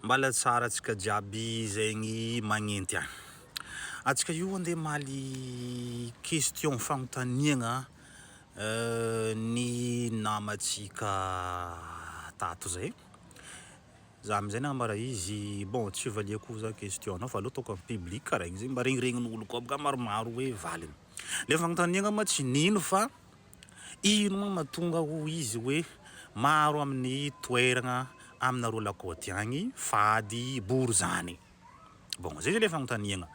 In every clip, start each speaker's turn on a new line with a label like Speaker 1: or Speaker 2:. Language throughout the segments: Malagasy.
Speaker 1: Mbala tsara atsika jiaby zegny magnenty an. Atsika io ande maly question fanontaniagna ny namatsika tato zay. Za amizay nama ra izy bon tsy valiako za question nao fa aleo ataoko am public kara igny zegny mba regniregnin'olo koa baka maromaro hoe valiny le fagnontaniagna ma tsy nino fa Ino moa no mahatonga ho izy hoe maro amin'ny toeragna aminareo lakôty agny fady bory zany? Bon, zay zany le fagnontaniagna.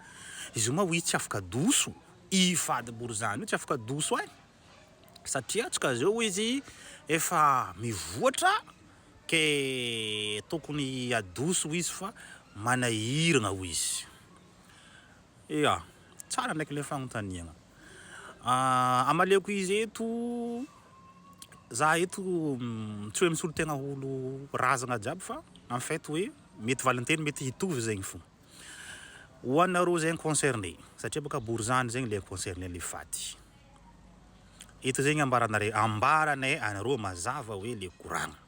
Speaker 1: Izy io ma oui tsy afaka adoso, i fady bory zany io tsy afaka adoso ai, satria antsika zao hoy izy efa mivoatra ke tokony adoso hoy izy fa manahiragna hoy izy. Ea! Tsara ndraiky le fagnontaniagna. Amaleoko izy eto, za eto tsy hoe misolo tegna ho olo razagna jiaby fa en fait hoe mety valinteny mety hitovy zegny fô ho anareo zegny concerné satria bôka borizano zegny le concerné le faty. Eto zegny ambaranare ambaranay anareo mazava hoe le koragna.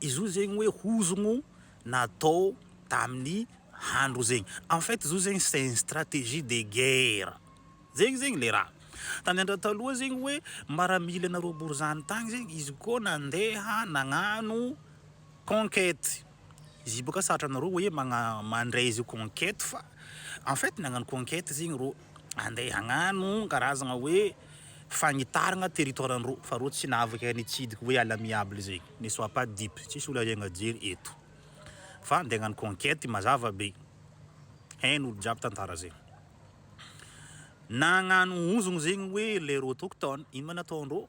Speaker 1: Izy io zegny hoe hozogno natao tamin'ny handro zegny. En fait izy io zegny c'est une stratégie de guerre. Zegny zegny le raha. Tany andro taloha zegny hoe maramila nareo borizano tagny zegny izy koa nandeha nagnano conquête. Izy io boka sarotra anareo hoe magna- mandray izy io conquête fa en fait nagnano conquête zegny reo. Andeha hagnano karazagna hoe fagnitaragna territoire andreo fa reo tsy nahavaka ny nitsidika hoe à l'amiable zay, ne soit pas dupe, tsisy olo ariagna jery eto fa andeha hagnano conquete mazava be, hainy olo jiaby tantara zay. Nagnano hozogno zegny hoe les autochtones, ino ma nataondreo?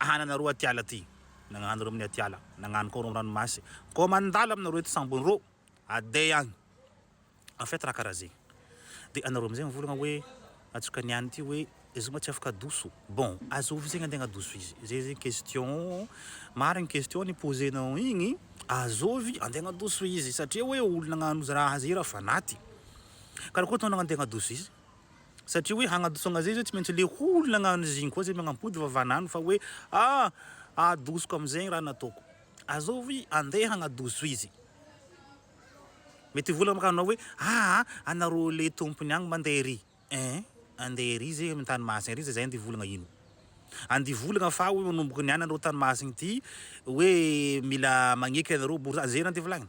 Speaker 1: Ana nareo atiala ty nagnano reo aminy atiala nagnano koa reo ranomasy koa mandalo aminareo eto sambony reo aday agny en fait raha karaha zegny de anareo amizay mivolagna hoe atsoka ny any ty hoe zoma tsy afaka adoso bon azovy zegny ande agnadoso izy zay zegny question marigny question ni poser nao igny azovy ande agnadoso izy satria hoe olo nagnano raha zay raha fanaty karakory tao nagnande agnadoso izy. Satria hoe hagnadoso an'izay izy hoe tsy maintsy le olona agnano izy igny koa zay magnampody fa vanano fa hoe ah adosoko amizay raha nataoko azovy andeha hagnadoso izy mety hivola maka anao hoe ah anareo le tompony agny mandeha ery eh andeha ery zay amy tany masina ery zay zay andeha volagna ino andeha volagna fa hoe manomboka niany anareo tany masina ity hoe mila magneky anareo bory zany zay andeha volagny.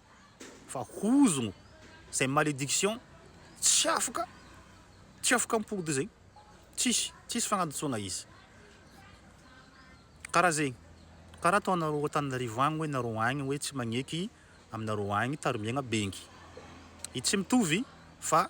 Speaker 1: fa hozogno zay malédiction tsy afaka tsy afaka mipody zegny tsisy tsisy fagnadintsoagna izy karaha zegny karaha ataonareo Antananarivo agny hoe nareo agny hoe tsy magneky aminareo agny tarimiagna bengy i tsy mitovy fa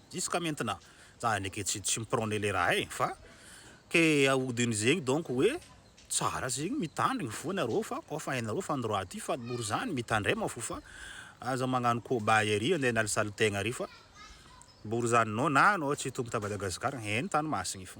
Speaker 1: Jusqu'à maintenant za ndreky tsy tsy mi-prone le raha eh fa ke ahodiny zegny donc hoe tsara zegny mitandrigny fo nareo fa koa fa hainareo fa ndroa ty fa mor zany mitandrema fo fa aza magnano kobay ary ande hanalisaly tegna ary fa mbory zany no na anao tsy hitombo ta Madagascar heno tany masigny fo.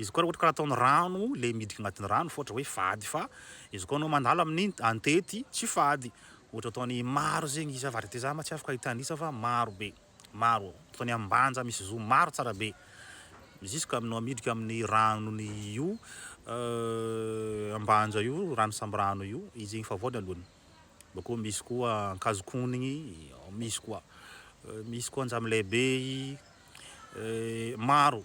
Speaker 1: Izy koa raha ohatra ka ataony rano le miditra agnatin'ny rano fa ohatra hoe fady fa izy koa anao mandalo amin'ny antety tsy fady ohatra ataony maro zegny izy avadika za ma tsy afaka ahita an'isa fa maro be maro ataony ambanja misy zo maro tsara be jusque aminao miditra amin'ny ranony io ambanja io rano samby rano io izy zegny efa voaloany bakeo misy koa ankazokonigny misy koa misy koa anjamilay be maro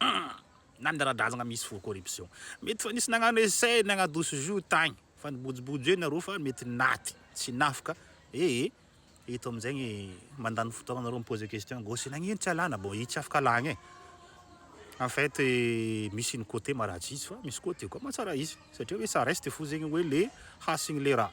Speaker 1: Hum! na ny ara-drazagna misy fo corruption mety fa nisy nagnano essai nagnadoso jour tagny fa nibojobojo eo nareo fa mety naty tsy nafka ee eto amizegny mandany fotoagna nareo mi-poser question gauche nagnino tsy alana bon i tsy afaka alagna e en fait misy ny cote maharatsy izy fa misy cote koa mahatsara izy satria hoe ça reste fo zegny hoe le hasigny le raha.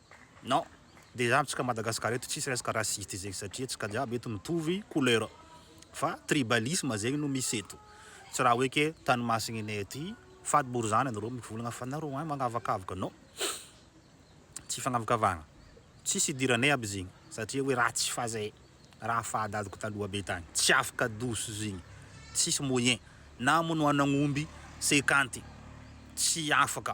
Speaker 1: Non, dejà amintsika Madagascar eto tsisy resaka raciste zegny satria antsika jiaby eto mitovy couleur fa tribalisme zegny no misy eto, tsy raha hoe ke tany masigninay aty fady bory zany anareo mivolagna fa nareo agny magnavakavaka non, tsy fagnavakavahagna, tsisy idiranay aby zegny satria hoe raha tsy fazay raha faha dadako taloha be tagny tsy afaka douce zegny tsisy moyen na monoanagnomby cinquante tsy afaka.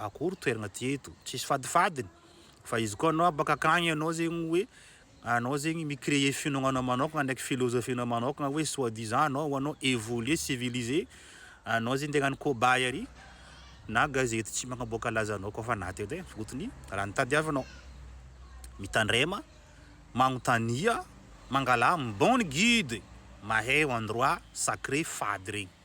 Speaker 1: akory toerana ty eto tsisy fadifadiny fa izy koa anao baka akagny anao zegny hoe anao zegny mi créer finoagnanao manokagna ndraiky philosophie nao manokagna hoe soit disant anao ho anao évoluer civilisé anao zegny tegna ny cobaye ary na gazety tsy magnaboaka laza anao koa fa na teo tegna fotony raha ny tadiavinao mitandrema magnontania mangalà ny bon guide maheo endroit sacré fady regny.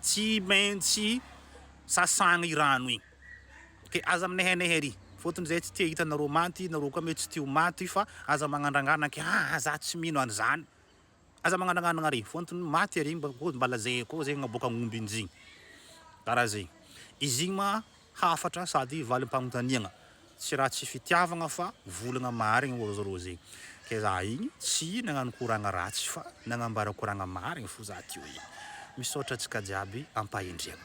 Speaker 1: tsy maintsy sasana i rano igny ok aza minehenehe ery fotony zay tsy te hahita nareo maty nareo koa mety tsy te ho maty fa aza magnandrangana ke aa za tsy mino an'izany aza magnandragnana ary fotony maty ery mba koa mba lazaiko koa zay naboaka agnomby injigny karaha zay izy igny ma hafatra sady valim-panontaniagna. Tsy raha tsy fitiavagna fa volagna marigny ozy rô zegny. Ke za igny tsy nagnano koragna ratsy fa nagnambara koragna marigny fo za teo igny. Misaotra antsika jiaby ampahendriagna.